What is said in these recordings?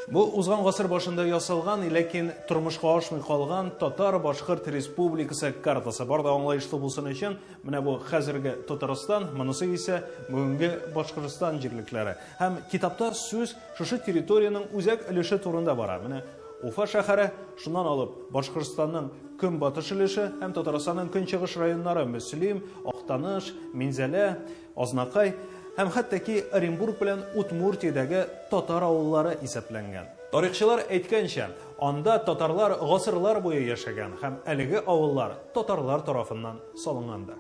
Бу узган гасыр башында ясалган, ләкин тормышка ашмый калган татар башкорт республикасы картасы. Бар да аңлаешлы булсын өчен, менә бу хәзерге Татарстан, монысы исә бүгенге Башкортстан җирлекләре. Һәм китапта сүз шушы территориянең үзәк өлеше турында бара. Менә Уфа шәһәре, шуннан алып Башкортстанның көнбатыш өлеше һәм Татарстанның көнчыгыш районнары Мөслим, Актаныш, Минзәлә, Азнакай һәм хәтта ки Оренбург белән Удмуртиядәге татар авыллары исәпләнгән. Тарихчылар әйткәнчә, анда татарлар гасырлар буе яшәгән һәм әлеге авыллар татарлар тарафыннан салынгандыр.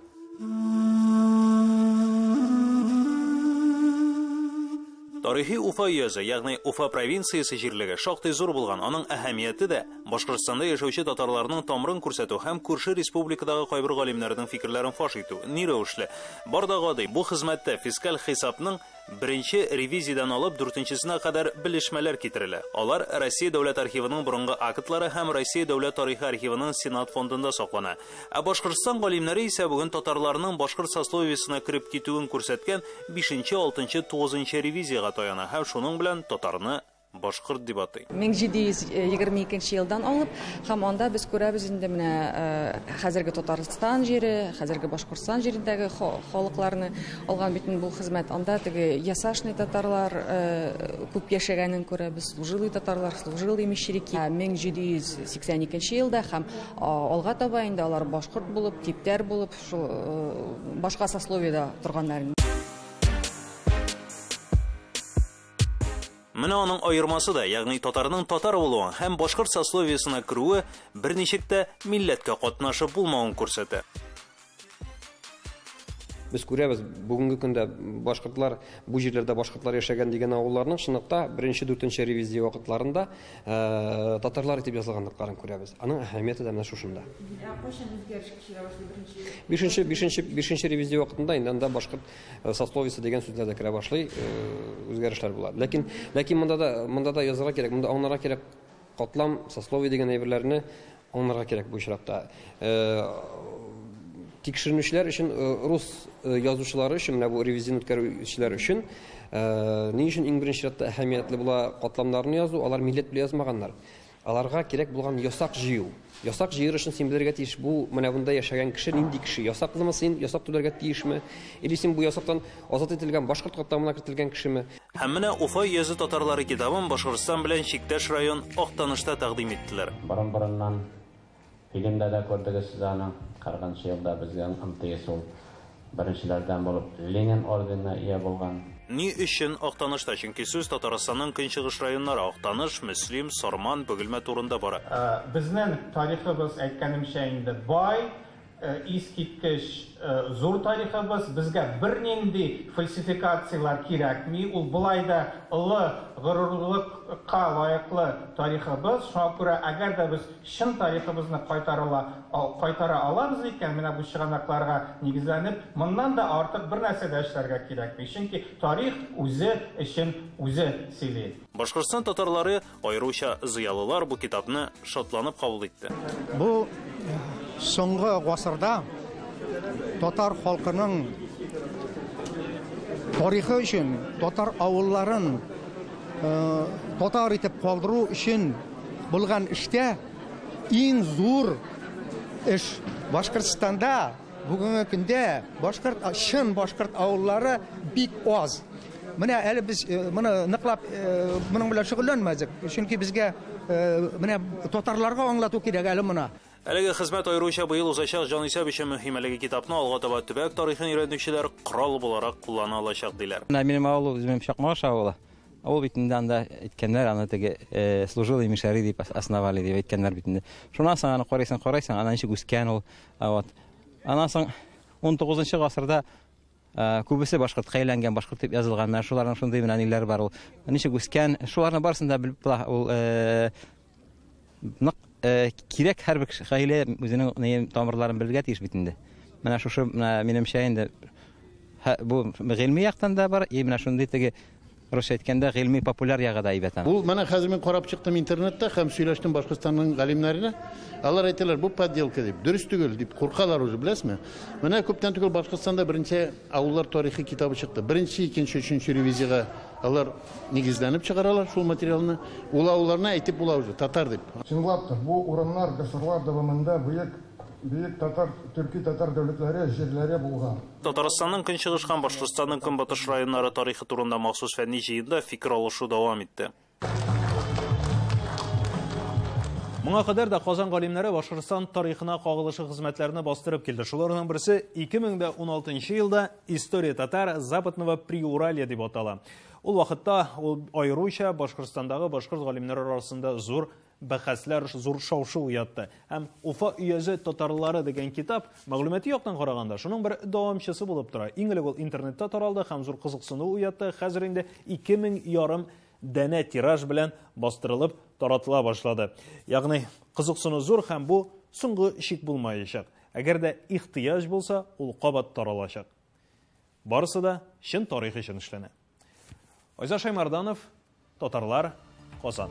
Тарихи Уфа өязе, ягъни Уфа провинциясе җирлеге шактый зур булган, аның әһәмияте дә Башкортстанда яшәүче татарларның тамырын күрсәтү һәм күрше республикадагы кайбер галимнәрнең фикерләрен фаш итү. Ни рәвешле? Бар да гади, бу хезмәттә фискаль хисапның Беренче ревизиядән алып дүртенчесенә кадәр белешмәләр китерелә. Алар Россия Дәүләт архивының борынгы актлары һәм Россия Дәүләт тарихы архивының Сенат фондында саклана. Ә Башкортстан галимнәре исә бүген татарларның башкорт сословиесенә кереп китүен күрсәткән бишенче, алтынчы, тугызынчы ревизиягә таяна һәм шуның белән татарны Башкорт дип атый. Мең җиде йөз егерме икенче елдан алып һәм анда без күрәбез инде менә хәзерге Татарстан җире, хәзерге Башкортстан җирендәге халыкларны алган бит бу хезмәт. Анда теге ясашный татарлар күп яшәгәнен күрәбез, служилый татарлар, служилый мещерики. Мең җиде йөз сиксән икенче елда һәм алга таба инде алар башкорт булып, типтәр булып, шул башка сословиедә торганнар. Менә аның аермасы да, ягъни татарның татар булуы һәм башкорт сословиесына керүе берничек тә милләткә катнашып булмавын күрсәтә. Без күрәбез, бүгенге көндә башкортлар, бу җирләрдә башкортлар яшәгән дигән авылларның чынлыкта беренче дүртенче ревизия вакытларында э, татарлар итеп язылганлыкларын күрәбез. Аның әһәмияте дә менә шушында. Ә кайчан үзгәреш кичерә башлый беренче? Бишенче, бишенче, бишенче ревизия вакытында инде анда башкорт Э, сословиесе дигән сүзләр дә керә башлый, э, үзгәрешләр була. Ләкин ләкин монда да монда да язарга кирәк, монда аңларга кирәк катлам, сословие дигән әйберләрне аңларга кирәк бу очракта. Э, тикшеренүчеләр өчен рус язучылары өчен менә бу ревизин үткәрүчеләр өчен ни өчен иң беренче чиратта әһәмиятле була катламнарны язу, алар милләт белән язмаганнар. Аларга кирәк булган ясак җыю. Ясак җыер өчен син белергә тиеш, бу менә монда яшәгән кеше нинди кеше, ясаклымы син, ясак түләргә тиешме, или син бу ясактан азат ителгән башкорт катламына кертелгән кешеме. Һәм менә Уфа йөзе татарлары китабын Башкортстан белән чиктәш район Актанышта тәкъдим иттеләр. Борын-борыннан. Фильмда да күрдегез сез аны. 40 нчы елда безгә МТС ул беренчеләрдән булып Ленин орденына ия булган. Ни өчен Актанышта? Чөнки сүз Татарстанның көнчыгыш районнары, Актаныш, Мөслим, Сарман, Бөгелмә турында бара. Безнең тарихыбыз, әйткәнемчә инде, бай, Искиткеч зур тарихыбыз, безгә бернинди фальсификацияләр кирәкми, ул болай да олы горурлыкка лаеклы тарихыбыз, шуңа күрә әгәр дә без чын тарихыбызны кайтарыла кайтара алабыз икән, менә бу чыганакларга нигезләнеп, моннан да артык бернәрсә дә эшләргә кирәкми, чөнки тарих үзе өчен үзе сөйли. Башкортстан татарлары Аеруча зыялылар бу китапны шатланып кабул итте. Бу соңгы гасырда татар халкының тарихы өчен, татар авылларын э, татар итеп калдыру өчен булган эштә иң зур эш Башкортстанда Бүгенге көндә башкорт, чын башкорт авыллары бик аз. Менә әле без э, моны ныклап э, моның белән шөгыльләнмәдек, чөнки безгә э, менә татарларга аңлату кирәк әле моны. Әлеге хезмәт аеруча быел узачак җанисәп өчен мөһим. Әлеге китапны алга таба төбәк тарихын өйрәнүчеләр корал буларак куллана алачак, диләр. Менә минем авыл үзем Чакмаш авылы. Авыл бит инде анда әйткәннәр, аны теге э, служилый мишари дип основали дип әйткәннәр бит инде. Шуннан соң аны карыйсың, карыйсың, ана ничек үскән ул, Вот. Аннан соң 19 гасырда Э, күбесе башкортка әйләнгән башкорт дип язылганнар шуларның шундый менә ниләр бар ул ничек үскән шуларның барысын да белеп була ул э, нык э, кирәк һәрбер гаилә үзенең тамырларын белергә тиеш бит инде менә шушы менә минемчә инде бу гыйльми яктан да бар и менә шундый теге Русча әйткәндә, гыйльми-популяр ягы да әйбәт аның. Ул, менә хәзер мин карап чыктым интернетта һәм сөйләштем Башкортстанның галимнәренә. Алар әйтәләр, бу подделка дип, дөрес түгел дип куркалар уже, беләсезме? Менә күптән түгел Башкортстанда беренче авыллар тарихы китабы чыкты. Беренче, икенче, өченче ревизиягә алар нигезләнеп чыгаралар шул материалны. Ул авылларны әйтеп була уже, татар дип. Чынлап та, бу урыннар гасырлар дәвамында бөек Бөек татар, төрки-татар дәүләтләре җирләре булган. Татарстанның көнчыгыш һәм Башкортстанның көнбатыш районнары тарихы турында махсус фәнни җыенда фикер алышу дәвам итте. Моңа кадәр дә Казан галимнәре Башкортстан тарихына кагылышлы хезмәтләрне бастырып килде. Шуларның берсе 2016 елда История татар Западного Приуралья дип атала. Ул вакытта ул аеруча Башкортстандагы башкорт галимнәре арасында зур Бәхәсләр зур шау-шу уятты. Һәм Уфа өязе татарлары дигән китап, мәгълүмати яктан караганда, шуның бер дәвамчысы булып тора. Иң элек ул интернетта таралды һәм зур кызыксыну уятты. Хәзер инде 2000 ярым дәнә тираж белән бастырылып таратыла башлады. Ягъни, кызыксыну зур һәм бу соңгы шик булмаячак. Әгәр дә ихтыяҗ булса, ул кабат таралачак. Барысы да чын тарих өчен эшләнә. Айза Шаймарданов, Татарлар, Казан.